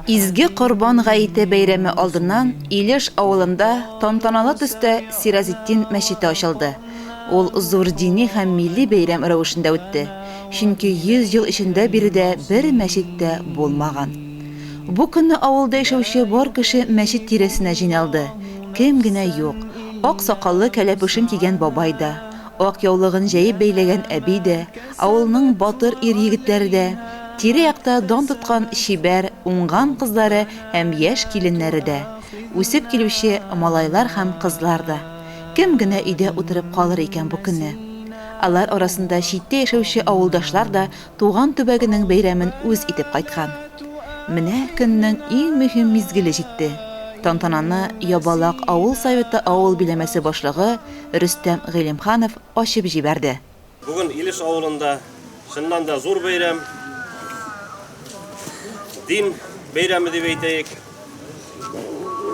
Изге Корбан гаете бәйрәме алдыннан Илеш авылында тантаналы төстә Сиразетдин мәчете ачылды. Ул зур дини һәм милли бәйрәм рәвешендә үтте, чөнки 100 ел эчендә биредә бер мәчет тә булмаган. Бу көнне авылда яшәүче бар кеше мәчет тирәсенә җыйналды, кем генә юк, ак сакаллы кәләпүшен кигән бабай да, Ак яулыгын җәеп бәйләгән әби дә, авылның батыр ир-егетләре дә, тирә-якта дан тоткан чибәр, уңган кызлары һәм яшь киленнәре дә, үсеп килүче малайлар һәм кызлар да. Кем генә өйдә утырып калыр икән бу көнне? Алар арасында читтә яшәүче авылдашлар да туган төбәгенең бәйрәмен үз итеп кайткан. Менә көннең иң мөһим мизгеле җитте. Тантананы Ябалак авыл Советы авыл биләмәсе башлыгы, Рөстәм Гыйлемханов ачып җибәрде. Бүген Илеш авылында чыннан да зур бәйрәм, дин бәйрәме дип әйтәек.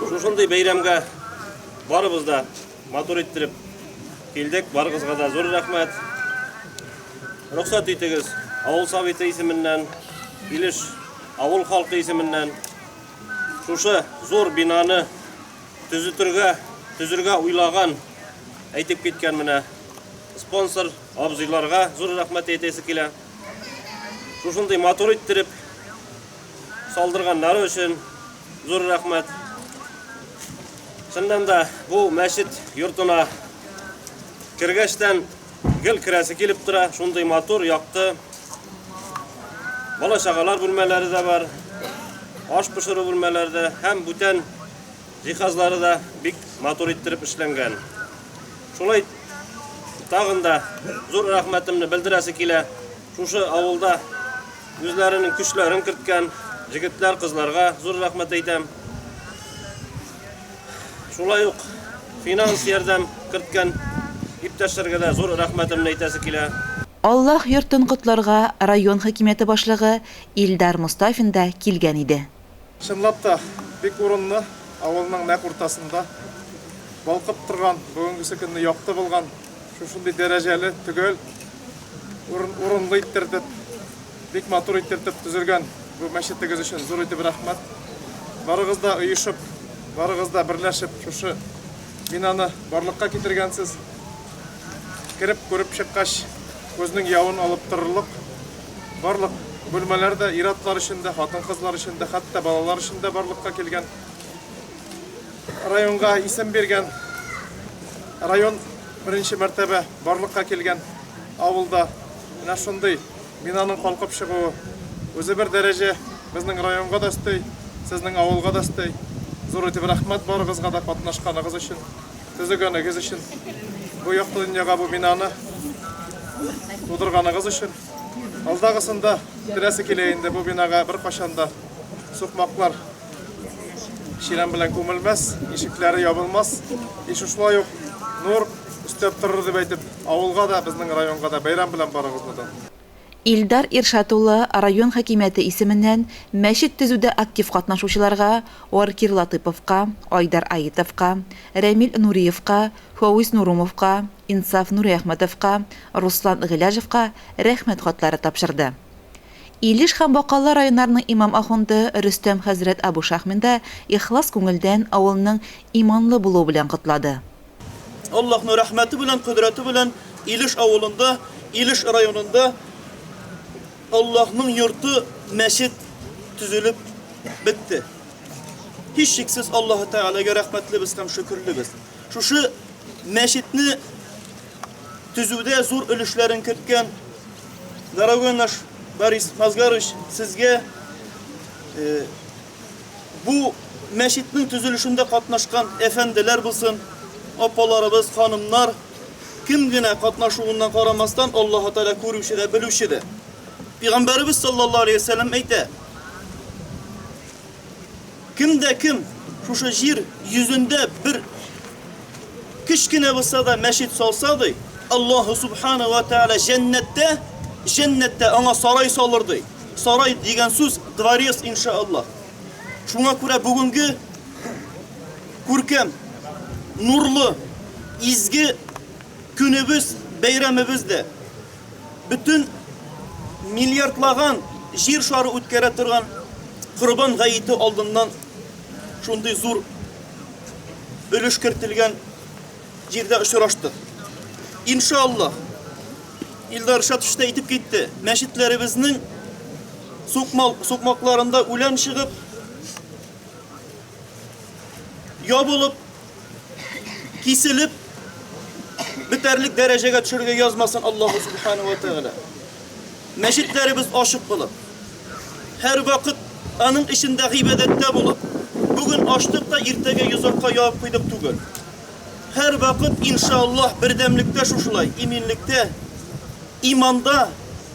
Шушындый бәйрәмгә барыбыз да матур иттереп килдек. Барыгызга да зур рәхмәт. Рөхсәт итегез, авыл советы исеменнән, Илеш авыл халкы исеменнән шушы зур бинаны Төзетергә, төзергә уйлаган, әйтеп киткән менә спонсор абзыйларга зур рәхмәт әйтәсе килә. Шушындый матур иттереп салдырганнары өчен зур рәхмәт. Чыннан да бу мәчет йортына кергәчтән Гел керәсе килеп тора, шундый матур, якты. Бала чагалар бүлмәләре дә бар. Аш пешерү бүлмәләре дә һәм бүтән җиһазлары да бик матур иттереп эшләнгән. Шулай тагын да зур рәхмәтемне белдерәсе килә. Шушы авылда үзләренең көчләрен керткән җегетләр, кызларга зур рәхмәт әйтәм. Шулай ук финанс ярдәм керткән иптәшләргә дә зур рәхмәтемне әйтәсе килә. Аллаһ йортын котларга район хакимияте башлыгы Илдар Мостафин да килгән иде. Чынлап та, бик урынлы, авылның нәкъ уртасында балкып торган, бүгенгесе көнне якты булган шушындый дәрәҗәле, төгәл урын урынлы иттердек. Бик матур итертеп төзелгән бу мәчетегез өчен зур итеп рәхмәт. Барыгыз да оешып, барыгыз да берләшеп шушы бинаны барлыкка китергәнсез. Кереп күреп чыккач, күзнең явын алып торырлык. Барлык бүлмәләр дә ир-атлар өчен дә, хатын-кызлар өчен дә, хәтта балалар өчен дә барлыкка килгән. Районга исем биргән район беренче мәртәбә барлыкка килгән авылда менә шундый Бинаның калкып чыгуы үзе бер дәрәҗә, безнең районга да өсти, сезнең авылга да өсти. Зур итеп рәхмәт барыгызга да катнашканыгыз өчен, төзегәнегез өчен, бу якты дөньяга бу бинаны тудырганыгыз өчен. Алдагысында теләсе килә инде бу бинага беркайчан да сукмаклар Чирәм белән күмелмәс, ишекләре ябылмас. И шушылай ук нур өстәп торыр дип әйтеп, авылга да, безнең районга да бәйрәм белән барыгызны да. Илдар Иршат улы район хакимияте исеменнән мәчет төзүдә актив катнашучыларга, Оркир Латыповка, Айдар Аитовка, Рәмил Нуриевка, Фәүз Нурумовка, Инсаф Нуриәхмәтовка, Руслан Гыйләжевка Рәхмәт хатлары тапшырды. Илеш һәм Бакалы районнарының имам ахунды Рөстәм хәзрәт Абу Шахмин да ихлас күңелдән авылның иманлы булуы белән котлады. Аллаһның рәхмәте белән, кодрәте белән Илеш авылында, Илеш районында Аллаһның йорты, мәчет төзелеп бетте. Һичшиксез Аллаһы Тәгаләгә рәхмәтлебез һәм шөкерлебез. Шушы мәчетне төзүдә зур өлешләрен керткән дорогой наш Борис Мазгарович, сезгә э, бу мәчетнең төзелешендә катнашкан әфәнделәр булсын, апаларыбыз, ханымнар, кем генә катнашуыннан карамастан, Аллаһ Тәгалә күрүче дә, белүче дә. Пәйгамбәребез саллаллаһу алейһи ва әйтә: Кем дә кем шушы җир йөзендә бер кечкенә булса да мәчет салса, ди, Аллаһу субхана ва тәгалә җәннәттә, җәннәттә аңа сарай салыр, ди. Сарай дигән сүз дворец иншааллаһ. Шуңа күрә бүгенге күркәм, нурлы, изге көнебез, бәйрәмебез дә Бөтен миллиардлаган җир шары үткәрә торган Корбан гаете алдыннан шундый зур өлеш кертелгән җирдә очраштык. Иншаллаһ, Илдар Шатович та әйтеп китте, мәчетләребезнең сукмал, сукмакларында үлән чыгып, ябылып, киселеп, бетәрлек дәрәҗәгә төшерергә язмасын Аллаһу Субхану ва Тәгалә. Мәчетләребез ачык булып, һәр вакыт аның эчендә гыйбадәттә булып, бүген ачтык та иртәгә йозакка ябып куйдык түгел. Һәр вакыт иншаллаһ бердәмлектә шушылай, иминлектә, иманда,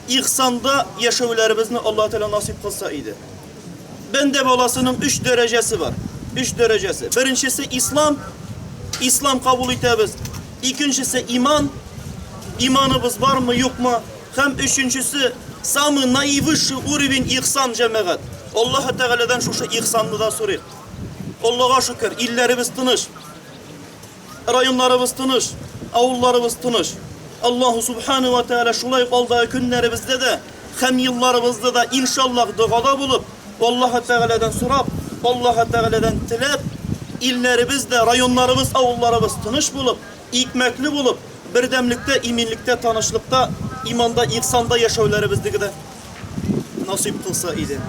ихсанда яшәүләребезне Аллаһ Тәгалә насыйп кылса иде. Бәндә баласының өч дәрәҗәсе бар. Өч дәрәҗәсе. Беренчесе ислам. Ислам кабул итәбез. Икенчесе иман. Иманыбыз бармы, юкмы? Һәм өченчесе самый наивысший уровень ихсан җәмәгать. Аллаһы Тәгаләдән шушы ихсанны да сорыйк. Аллага шөкер, илләребез тыныч. Районнарыбыз тыныч, авылларыбыз тыныч. Аллаһу Субхана ва Тәгалә шулай ук алдагы көннәребездә дә һәм елларыбызда да, иншаллаһ, догада булып, Аллаһы Тәгаләдән сорап, Аллаһы Тәгаләдән теләп, илләребез дә, районнарыбыз, авылларыбыз тыныч булып, икмәкле булып, бердәмлектә, иминлектә, танышлыкта, иманда, ихсанда яшәүләребезне дә насыйп кылса иде.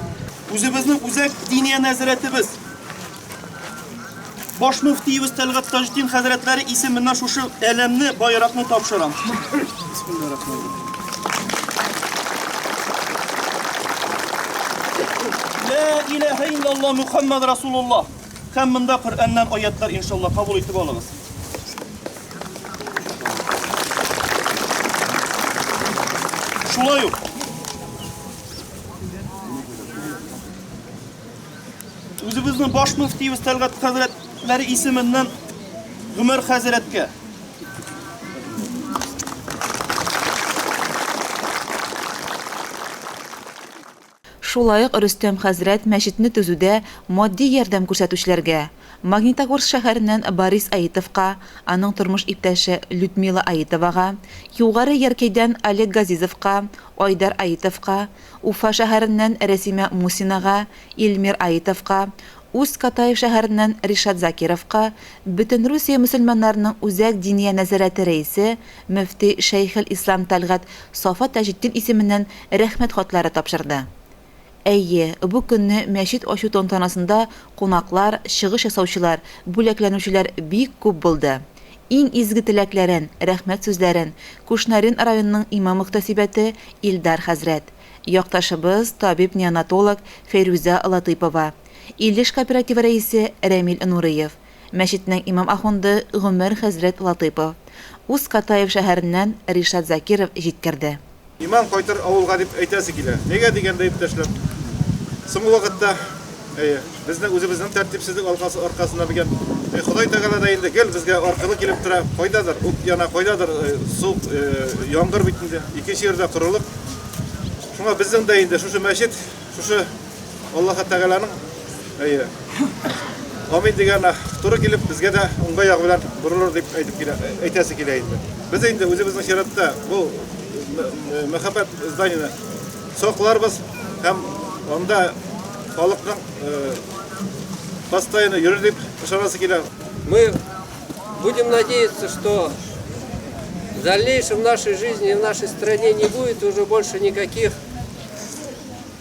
Үзебезнең үзәк Диния нәзарәтебез, Баш мөфтиебез Тәлгат Таҗдин хәзрәтләре исеменнән шушы әләмне байракны тапшырам. Ла илаһа иллаллаһ Мухаммад Расулуллаһ. Һәм монда Коръәннән аятлар иншаллаһ кабул итеп алыгыз. Шулай ук Үзебезнең баш мөфтиебез Тәлгат хәзрәтләре исеменнән Гомәр хәзрәткә. Шулай ук Рөстәм хәзрәт мәчетне төзүдә матди ярдәм күрсәтүчеләргә, Магнитогорск шәһәреннән Борис Аитовка, аның тормыш иптәше Людмила Аитовага, Югары Яркәйдән Олег Газизовка, Айдар Аитовка, Уфа шәһәреннән Рәсимә Мусинага, Илмир Аитовка, Усть-Катай шәһәреннән Ришат Закировка, Бөтенрусия мөселманнарының Үзәк Диния нәзарәте рәисе, мөфти Шәйхелислам Тәлгать Сафа Таҗетдин исеменнән Рәхмәт хатлары тапшырды. Әйе, бу көнне мәчет ачу тантанасында кунаклар, чыгыш ясаучылар, бүләкләнүчеләр бик күп булды. Иң изге теләкләрен, рәхмәт сүзләрен Кушнарин районының имам-мөхтәсибәте Илдар хәзрәт, якташыбыз, табиб-неонатолог Фәйрүзә Латыйпова, Илеш кооперативы рәисе Рәмил Нуриев, Мәчетнең имам ахунды Гомәр хәзрәт Латыйпов, Усть Катаев шәһәреннән Ришат Закиров җиткерде. Иман кайтыр авылга дип әйтәсе килә. Нигә дигәндә, иптәшләр, соңгы вакытта, әйе, безнең үзебезнең тәртипсезлек алкасы аркасында микән, әй, Ходай Тәгалә дә инде гел безгә аркылы килеп тора, кайдадыр ут яна, кайдадыр су, яңгыр бит инде, икенче йирдә корылык. Шуңа безнең дә инде шушы мәчет, шушы. Аллаһы Тәгаләнең әйе. Амин дигән туры килеп, безгә дә уңга ягы белән борылыр дип әйтеп килә, әйтәсе килә инде. Без инде үзебезнең чиратта бу мәхәббәт зданияне сакларбыз һәм анда халыкның постоянно йөрер дип ышанасы килә. Мы будем надеяться, что в дальнейшем в нашей жизни и в нашей стране не будет уже больше никаких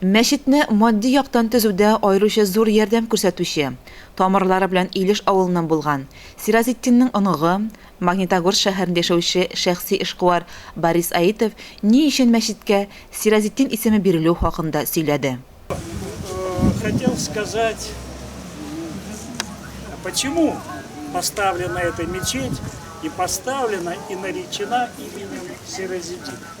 Мәчетне матди яктан төзүдә аеруча зур ярдәм күрсәтүче, тамырлары белән Илеш авылыннан булган, Сираҗетдинның оныгы, Магнитогорск шәһәрендә яшәүче шәхси эшкуар Борис Аитов ни өчен мәчеткә Сираҗетдин исеме бирелү хакында сөйләде. Хотел сказать, почему поставлена эта мечеть и поставлена и наречена именем Сираҗетдин.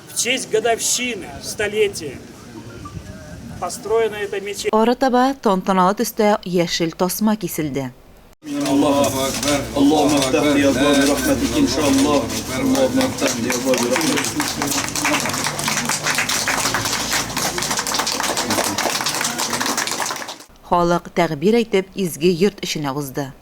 Арытаба тантаналы төстә яшел тасма киселде. Халык тәгъбир әйтеп изге йорт эченә узды.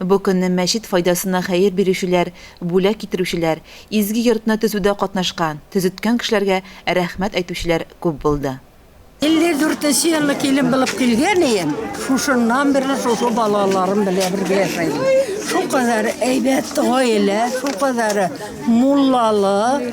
Бу көнне мәчет файдасына хәер бирүчеләр, бүләк китерүчеләр, изге йортны төзүдә катнашкан, төзеткән кешеләргә рәхмәт әйтүчеләр күп булды. 54 нче елны килен булып килгән ием, шушыннан бирле шушы балаларым белән бергә яшәйм. Шулкадәр әйбәт гаилә, шулкадәр муллалы.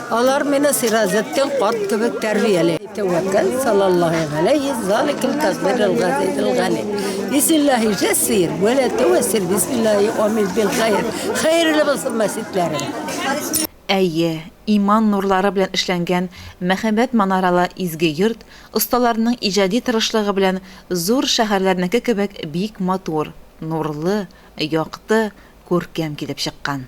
Алар мине Сираҗетдин карт кебек тәрбияли. Тәвәккәл салаллаһи галәйһи заликил тәкбирил газизил гали. Бисмиллаһи җәссир вә ла тәвәссир бисмиллаһи амин бил хәйр. Хәерле булсын мәситләрегез. Әйе, иман нурлары белән эшләнгән мәһабәт манаралы изге йорт осталарының иҗади тырышлыгы белән зур шәһәрләрнеке кебек бик матур, нурлы, якты, күркәм килеп чыккан.